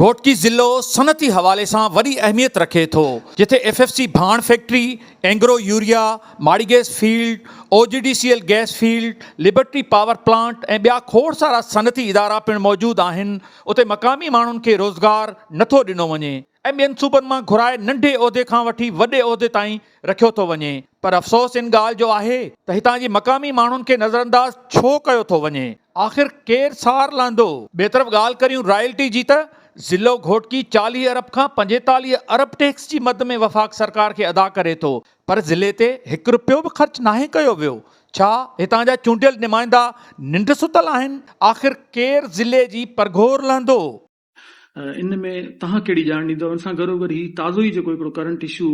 گهوٽڪي ضلعو صنعتي حوالي سان وڏي اهميت رکي ٿو جتي ايف ايف سي ڀاڻ factory, Engro urea, Mari gas field, O G D C L gas field, Liberty power plant ۽ ٻيا کوڙ سارا صنعتي ادارا پڻ موجود آهن، اتي مقامي ماڻهن کي روزگار نٿو ڏنو وڃي. ۽ ٻين صوبن مان گهرائي ننڍي عهدي کان وٺي وڏي عهدي تائين رکيو ٿو وڃي پر افسوس ان ڳالهه جو آهي ته هتان جي مقامي ماڻهن کي نظرانداز ڇو ڪيو ٿو وڃي آخر ڪير سار لهندو. ٻئي طرف ڳالهه ڪريون رائلٽي جي ته ضلع گهوٽڪي چاليهه ارب کان پنجيتاليهه ارب ٽيڪس جي مد ۾ وفاق سرڪار کي ادا ڪري ٿو پر ضلعي تي هڪ رپيو به خرچ ناهي ڪيو ويو ڇا هتان جا چونڊيل نمائندا ننڊ ستل آهن آخر ڪير ضلعي جي پرگهور لهندو. ان ۾ توهان ڪهڙي ڄاڻ ڏيندو. ان سان گهرو گهر هي تازو ئي جيڪو هڪڙو ڪرنٽ اشو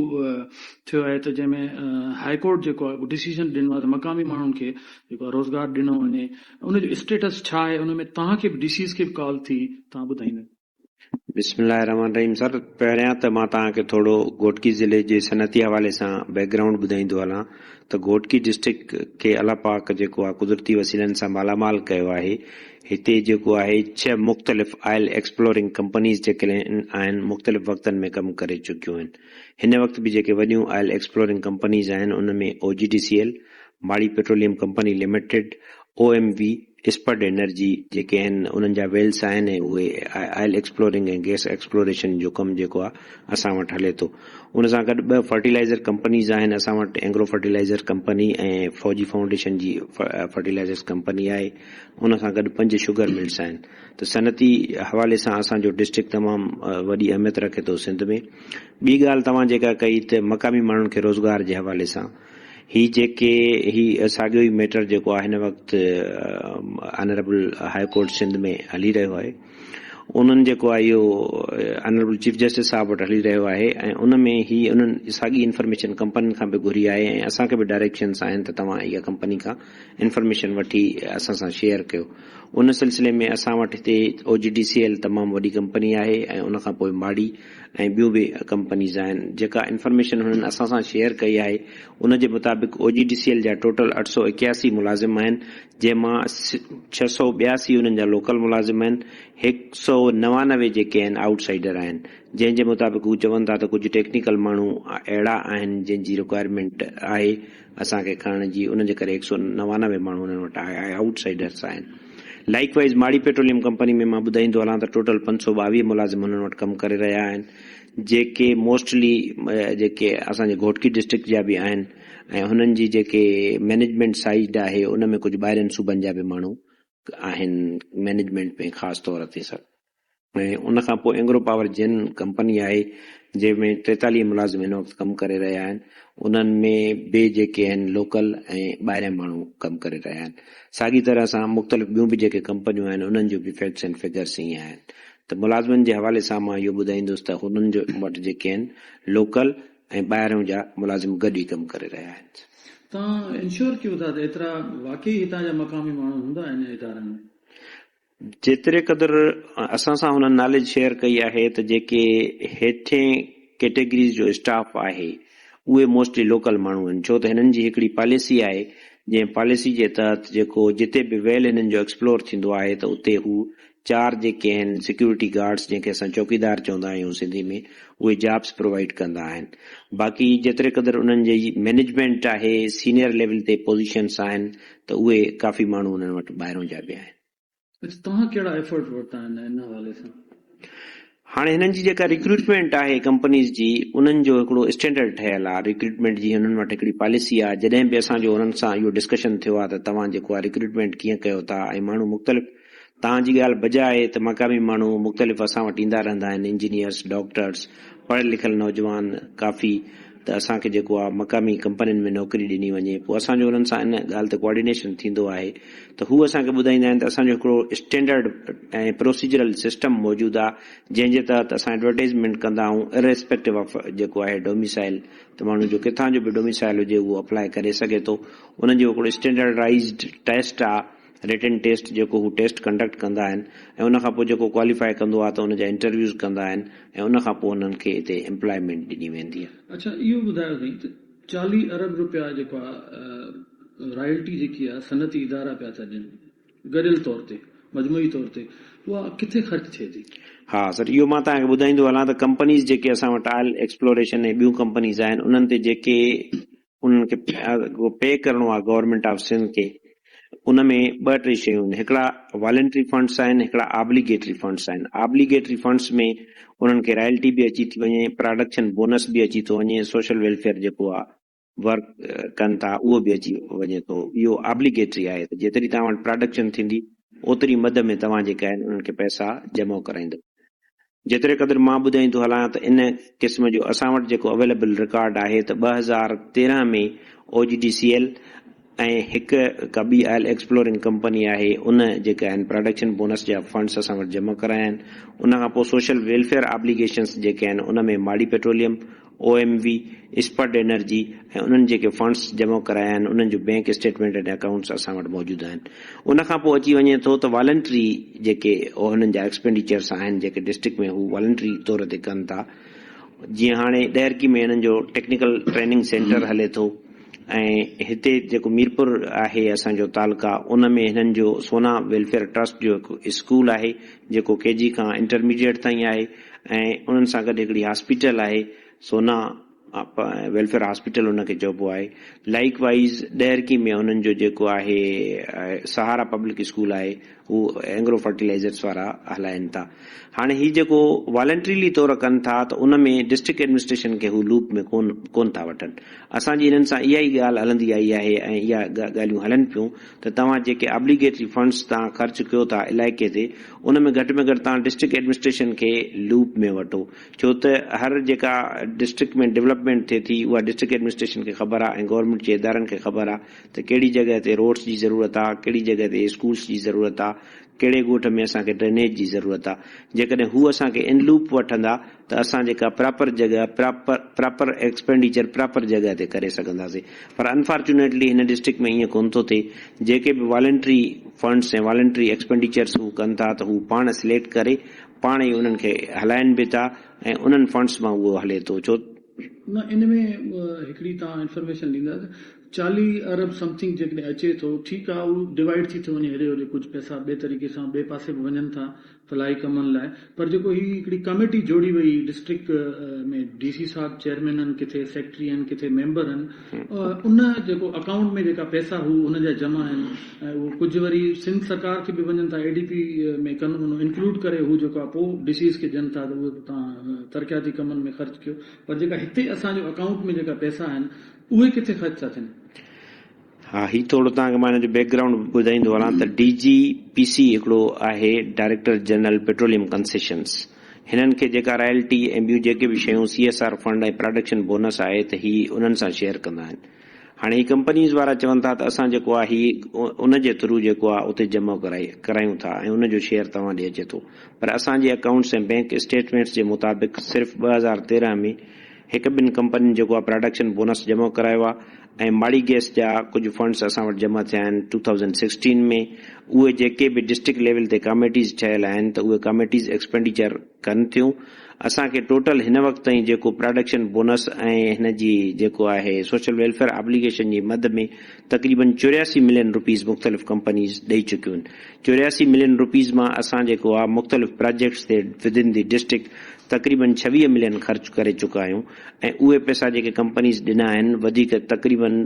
ٿيو آهي ته جنهن ۾ هاء ڪورٽ جيڪو آهي اهو ڊسيزن ڏنو آهي ته مقامي ماڻهن کي جيڪو آهي روزگار ڏنو وڃي ان جو اسٽيٽس ڇا آهي ان ۾ توهان کي به ڊي سيز کي به ڪال ٿي توهان ٻڌائيندا. بسم الله الرحمٰن الرحيم سر پهريان ته مان توهان کي ٿورو گهوٽڪي ضلعي جي صنعتي حوالي سان بيڪ گرائونڊ ٻڌائيندو هلان ته گهوٽڪي ڊسٽرڪٽ کي الله پاڪ جيڪو آهي قدرتي وسيلن سان مالامال ڪيو آهي هتي جيڪو آهي ڇهه مختلف آئل ايڪسپلورنگ ڪمپنيز جيڪي آهن مختلف وقتن ۾ ڪم ڪري چڪيون آهن. هن وقت به جيڪي وڏيون آئل ايڪسپلورنگ ڪمپنيز آهن ان ۾ O G D C L, Mari petroleum company limited, O M V, Spud energy, جيڪي آهن انهن جا ويلس آهن ۽ اهي آئل ايڪسپلورنگ ۽ گيس ايڪسپلوريشن جو ڪم جيڪو آهي اسان وٽ هلي ٿو. ان سان گڏ ٻه فرٽيلائيزر ڪمپنيز آهن اسان وٽ Engro fertiliser company ۽ Fauji foundation جي فرٽيلائيزرز ڪمپني آهي. ان سان گڏ پنج شگر ملز آهن ته صنعتي حوالي سان اسان جو ڊسٽرڪٽ تمام وڏي اهميت رکي ٿو سنڌ ۾ ٻي ڳالهه توهان جيڪا ڪئي ته مقامي ماڻهن کي روزگار جي حوالي سان هي جيڪي هي ساڳيو ئي ميٽر جيڪو آهي هن وقت آنريبل هاء ڪورٽ سنڌ ۾ هلي رهيو آهي انهن جيڪو آهي اهو آنريبل چيف جسٽس صاحب وٽ هلي رهيو آهي ۽ ان ۾ هي انهن ساڳي انفارميشن ڪمپنين کان به گهري آهي ۽ اسان کي به ڊائريڪشنس آهن ته توهان اها ڪمپني کان انفارميشن وٺي اسان سان شيئر ڪيو ان سلسلي ۾ اسان وٽ هتي O G D C L تمام وڏي ڪمپني آهي ۽ ان کان پوء ماڙي ۽ ٻيون به ڪمپنيز آهن جيڪا انفارميشن هنن اسان سان شيئر ڪئي آهي ان جي مطابق O G D C L جا ٽوٽل اٺ سؤ اڪياسي ملازم آهن جنهن مان ڇهه سؤ ٻياسي انهن جا لوڪل ملازم آهن هڪ سؤ نوانوي جيڪي آهن آئوٽ سائيڊر آهن جنهن جي مطابق هو چون ٿا ته ڪجهه ٽيڪنيڪل ماڻهو اهڙا آهن جن جي رڪوائرمينٽ آهي اسان کي کڻڻ جي ان جي ڪري هڪ سؤ نوانوي ماڻهو انهن وٽ آيا اهي آئوٽ سائيڊرس آهن likewise Mari petroleum company ۾ مان ٻڌائيندو هلان ته ٽوٽل پنج سؤ ٻاويهه ملازم انهن وٽ ڪم ڪري رهيا آهن جيڪي موسٽلي جيڪي اسان جي گهوٽڪي ڊسٽرڪٽ جا به آهن ۽ هنن جي جيڪي مينيجمينٽ سائيڊ آهي ان ۾ ڪجهه ٻاهرين صوبن جا به ماڻهو آهن مئنيجمينٽ ۾ خاص طور تي سر ۽ ان کان پوء اينگرو پاور جن ڪمپني آهي جنهن ۾ ٽيتاليهه ملازم هن وقت ڪم ڪري رهيا آهن انهن ۾ به جيڪي آهن لوڪل ۽ ٻاهريان ماڻهو ڪم ڪري رهيا آهن ساڳي طرح سان مختلف ٻيون به جيڪي ڪمپنيون آهن انهن جو به فيڪٽس ۽ فگرس ائين آهن ته ملازمن جي حوالي سان مان اهو ٻڌائيندس ته هنن جو وٽ جيڪي آهن لوڪل ۽ ٻاهرئون جا ملازم گڏ ئي ڪم ڪري رهيا آهن. توهان انشور ڪيو ٿا ته ايترا واقعي هتان جا مقامي ماڻهو هوندا انهن ادارن ۾؟ جيتري قدر اسان سان هنن ناليج شيئر ڪئي آهي ته جيڪي هيٺين ڪيٽيگريز جو اسٽاف آهي اهي موسٽلي لوڪل ماڻهو آهن ڇو ته هنن جي هڪڙي پاليسي آهي جنهن پاليسي جي تحت جيڪو جتي به ويل هنن جو ايڪسپلور ٿيندو آهي ته اتي هو چار جيڪي آهن سيڪيورٽي گارڊس جنهن کي اسان چوڪيدار چوندا آهيون سنڌي ۾ اهي جابس پرووائيڊ ڪندا آهن باقي جيتري قدر انهن جي مينيجمينٽ آهي سينئر ليول تي پوزيشنس آهن ته اهي ڪافي ماڻهو انهن وٽ ٻاهرون جا به آهن. اچ توهان ڪهڙا ايفرٽ ورتا آهن ان حوالي سان؟ هاڻي هنن جي جيڪا ريڪروٽمينٽ آهي ڪمپنيز جي انهن جو هڪڙو اسٽينڊرڊ ٺهيل آهي ريڪروٽمينٽ جي هنن وٽ هڪڙي پاليسي آهي جڏهن به اسان جو هنن سان اهو ڊسڪشن ٿيو آهي ته توهان جيڪو آهي ريڪروٽمينٽ ڪيئن ڪيو ٿا ۽ ماڻهو مختلف توهان جي ڳالهه بجا آهي ته مقامي ماڻهو مختلف اسان وٽ ايندا رهندا آهن انجنيئرس ڊاڪٽرس پڙهيل لکيل نوجوان ڪافي ته اسان کي جيڪو آ مقامي ڪمپنين ۾ نوڪري ڏني وڃي پوء اسان جو انهن سان ان ڳالهه تي ڪوآرڊينيشن ٿيندو آهي ته هو اسان کي ٻڌائيندا آهن ته اسان جو هڪڙو اسٽينڊرڊ ۽ پروسيجرل سسٽم موجود آ جنهن جي تحت اسان ايڊورٽائيزمينٽ ڪندا آهون Irrespective of جيڪو آهي ڊوميسائل ته ماڻهو جو ڪٿان جو به ڊوميسائل هجي اهو اپلائي ڪري سگهي ٿو انهن جو هڪڙو اسٽينڊرڊائيزڊ ٽيسٽ آ رٽن ٽيسٽ جيڪو هو ٽيسٽ ڪنڊڪٽ ڪندا آهن ۽ ان کان پوء جيڪو ڪواليفائي ڪندو آهي ته ان جا انٽرويوز ڪندا آهن ۽ ان کان پوء انهن کي اتي امپلائمينٽ ڏني ويندي آهي. اڇا اهو ٻڌايو سائين ته چاليهه ارب رپيا جيڪو آ رائلٽي جيڪي آ صنعتي ادارا پيا ٿا ڏين گڏيل طور تي مجموعي طور تي اها ڪٿي خرچ ٿئي ٿي؟ ها سر اهو مان توهان کي ٻڌائيندو هلان ته ڪمپنيز جيڪي اسان وٽ آئل ايڪسپلوريشن ۽ ٻيون ڪمپنيز آهن انهن تي جيڪي انهن کي اڳو پي ڪرڻو آهي گورنمينٽ آف سنڌ کي ان ۾ ٻه ٽي شيون آهن هڪڙا والنٽري فنڊس آهن هڪڙا آبليگيٽري فنڊس آهن آبليگيٽري فنڊس ۾ انهن کي رائلٽي به اچي ٿي وڃي پراڊڪشن بونس به اچي ٿو وڃي سوشل ويلفيئر جيڪو آهي ورڪ ڪن ٿا اهو به اچي وڃي ٿو اهو آبليگيٽري آهي ته جيتري توهان وٽ پراڊڪشن ٿيندي اوتري مد ۾ توهان جيڪا آهن انهن کي پئسا جمع ڪرائيندو جيتري قدر مان ٻڌائين ٿو هلان ته ان قسم جو اسان وٽ جيڪو اويليبل رڪارڊ آهي ته ٻه هزار تيرهن ۾ O G D C L ۽ هڪ ڪا ٻي آئل ايڪسپلورنگ ڪمپني آهي ان جيڪي آهن پراڊڪشن بونس جا فنڊس اسان وٽ جمع ڪرايا آهن ان کان پوء سوشل ويلفيئر آبليگيشنس جيڪي آهن ان ۾ Mari petroleum O M V, Spud energy ۽ انهن جيڪي فنڊز جمع ڪرايا آهن انهن جون بينڪ اسٽيٽمينٽ ۽ اڪائونٽس اسان وٽ موجود آهن. ان کان پوء اچي وڃي ٿو ته والنٽري جيڪي انهن جا ايڪسپينڊيچرز آهن جيڪي ڊسٽرڪٽ ۾ هو والنٽري طور تي ڪن ٿا. جيئن هاڻي ڏهرڪي ۾ انهن جو ٽيڪنيڪل ٽريننگ سينٽر هلي ٿو ۽ هتي جيڪو ميرپور آهي اسان جو تعلقه ان ۾ هنن جو سونا ويلفيئر ٽرسٽ جو هڪ اسڪول آهي جيڪو ڪي جي کان انٽرميڊيئيٽ تائين آهي. ۽ انهن سان گڏ هڪڙي هاسپيٽل آهي سونا ويلفيئر هاسپيٽل ان کي چئبو آهي لائيڪ وائيز ڏهرڪي ۾ انهن جو جيڪو آهي سهارا پبلڪ اسڪول آهي هو اينگرو فرٽيلائيزرس وارا هلائين ٿا هاڻي هي جيڪو والنٽريلي طور ڪن ٿا ته ان ۾ ڊسٽرڪٽ ايڊمنسٽريشن کي هو لوپ ۾ ڪون ڪون ٿا وٺن اسان جي انهن سان اها ئي ڳالهه هلندي آئي آهي ۽ اها ڳالهيون هلن پيون ته توهان جيڪي ابليگيٽري فنڊس تان خرچ ڪيو ٿا علائقي تي ان ۾ گهٽ ۾ گهٽ توهان ڊسٽرڪٽ ايڊمنسٽريشن کي لوپ ۾ وٺو ڇو ته هر جيڪا ڊسٽرڪٽ ۾ ڊولپمينٽ ٿئي ٿي اها ڊسٽرڪٽ ايڊمنسٽريشن کي خبر آهي ۽ گورنمينٽ جي ادارن کي خبر آهي ته ڪهڙي جڳهه تي روڊس جي ضرورت آهي ڪهڙي جڳهه تي اسڪولس جي ضرورت آهي ڪهڙي ڳوٺ ۾ اسان کي ڊرينيج جي ضرورت آهي جيڪڏهن هو اسان کي ان لوپ وٺندا ته اسان جيڪا پراپر جڳهه پراپر پراپر ايڪسپينڊيچر پراپر جڳهه تي ڪري سگهنداسين پر انفارچونيٽلي هن ڊسٽرڪٽ ۾ ائين ڪونه ٿو ٿئي جيڪي به والنٽري فنڊس ۽ والنٽري ايڪسپينڊيچرس هو ڪن ٿا ته هو پاڻ سليڪٽ ڪري پاڻ ئي انهن کي هلائن به ٿا ۽ انهن فنڊس مان اهو هلي ٿو ڇو نه ان ۾ هڪڙي توهان انفارميشن ڏيندا ته چاليهه ارب سمٿنگ جيڪڏهن اچي ٿو ٺيڪ آهي اهو ڊوائيڊ ٿي ٿو وڃي هيڏي هوڏي ڪجهه پئسا ٻئي طريقي سان ٻئي پاسي به وڃن ٿا فلاحي ڪمن لاء پر جيڪو هي هڪڙي ڪاميٽي جوڙي وئي ڊسٽرڪٽ ۾ ڊي سي صاحب چيئرمين هن ڪٿي سيڪريٽري هن ڪٿي ميمبر هن ان جيڪو اڪائونٽ ۾ جيڪا پئسا هو هن جا جمع هن اهو ڪجهه وري سنڌ سرڪار کي به وڃن ٿا اي ڊي پي ۾ ڪن ان انڪلوڊ ڪري هو جيڪا پو ڊي سيز کي ڏين ٿا ته اهي به تان ترقياتي ڪمن ۾ خرچ ڪيو پر جيڪا هتي اسان جو اڪائونٽ ۾ جيڪا پئسا هن اهي ڪٿي خرچ ٿا ٿين. ها هي ٿورو توهان کي مان هن جو بيڪ گرائونڊ ٻڌائيندو هلان ته ڊي جي پي سي هڪڙو آهي ڊائريڪٽر جنرل پيٽروليم ڪنسيشنز هنن کي جيڪا رائلٽي ۽ ٻيون جيڪي به شيون C S R fund ۽ production bonus آهي ته هي انهن سان شيئر ڪندا آهن هاڻي هي ڪمپنيز وارا چون ٿا ته اسان جيڪو آهي هي ان جي ٿرو جيڪو آهي اتي جمع ڪرايون ٿا ۽ ان جو شيئر توهان ڏي اچي ٿو پر اسان جي اڪائونٽس ۽ بينڪ اسٽيٽمينٽس جي مطابق صرف ٻه هزار تيرنهن ۾ هڪ ٻن ڪمپنين جيڪو آهي پراڊڪشن بونس جمع ڪرايو آهي ۽ ماڙي گيس جا ڪجهه فنڊز اسان وٽ جمع ٿيا آهن ٽو ٿائوزنڊ سڪسٽين ۾ اهي جيڪي به ڊسٽرڪٽ ليول تي ڪاميٽيز ٺهيل آهن ته اهي ڪاميٽيز ايڪسپينڊيچر ڪن ٿيون اسان کي ٽوٽل هن وقت تائين جيڪو پراڊڪشن بونس ۽ هن جي جيڪو آهي سوشل ويلفيئر آبليگيشن جي مد ۾ تقريبن چورياسي ملين روپيز مختلف ڪمپنيز ڏئي چڪيون چورياسي ملين روپيز مان اسان جيڪو آهي مختلف پراجيڪٽس تي ودن دي ڊسٽرڪٽ تقريبن ڇويهه ملين خرچ ڪري چڪا آهيون ۽ اهي پئسا جيڪي ڪمپنيز ڏنا آهن وڌيڪ تقريبن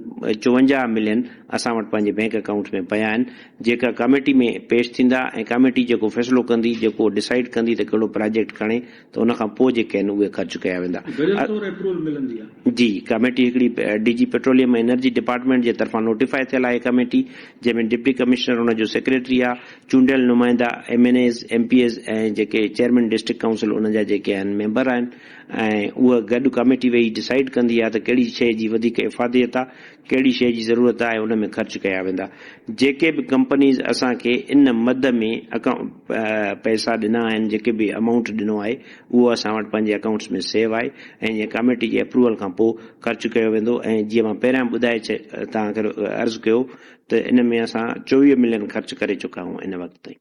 چوونجاهه ملين اسان وٽ پنهنجي بئنڪ اڪائونٽس ۾ پيا آهن جيڪا ڪاميٽي ۾ پيش ٿيندا ۽ ڪاميٽي جيڪو فيصلو ڪندي جيڪو ڊسائيڊ ڪندي ته ڪهڙو پراجيڪٽ کڻي ته ان کان پوء جيڪي آهن اهي خرچ ڪيا ويندا. گڏيل طور ايپروول ملندي آهي. جي ڪاميٽي هڪڙي D G petroleum ۽ energy department جي طرفان نوٽيفائي ٿيل آهي ڪاميٽي جنهن ۾ ڊپٽي ڪمشنر ان جو سيڪريٽري آهي چونڊيل نمائندا M N As M P As ۽ جيڪي چيئرمين ڊسٽرڪٽ ڪائونسل ان جا جيڪي آهن ميمبر آهن ۽ اها گڏ ڪاميٽي ويهي ڊسائيڊ ڪندي آهي ته ڪهڙي شيء جي وڌيڪ افاديت آهي، ڪهڙي شيء جي ضرورت آهي ان ۾ خرچ ڪيا ويندا. جيڪي به ڪمپنيز اسان کي ان مد ۾ پئسا ڏنا آهن، جيڪي به امائونٽ ڏنو آهي، اهو اسان وٽ پنهنجي اڪائونٽس ۾ سيو آهي ۽ جيئن ڪاميٽي جي اپروول کان پوء خرچ ڪيو ويندو ۽ جيئن مان پهريان ٻڌائي توهان کي عرض ڪيو ته ان ۾ اسان چوويهه ملين خرچ ڪري چڪا آهيون ان وقت تائين.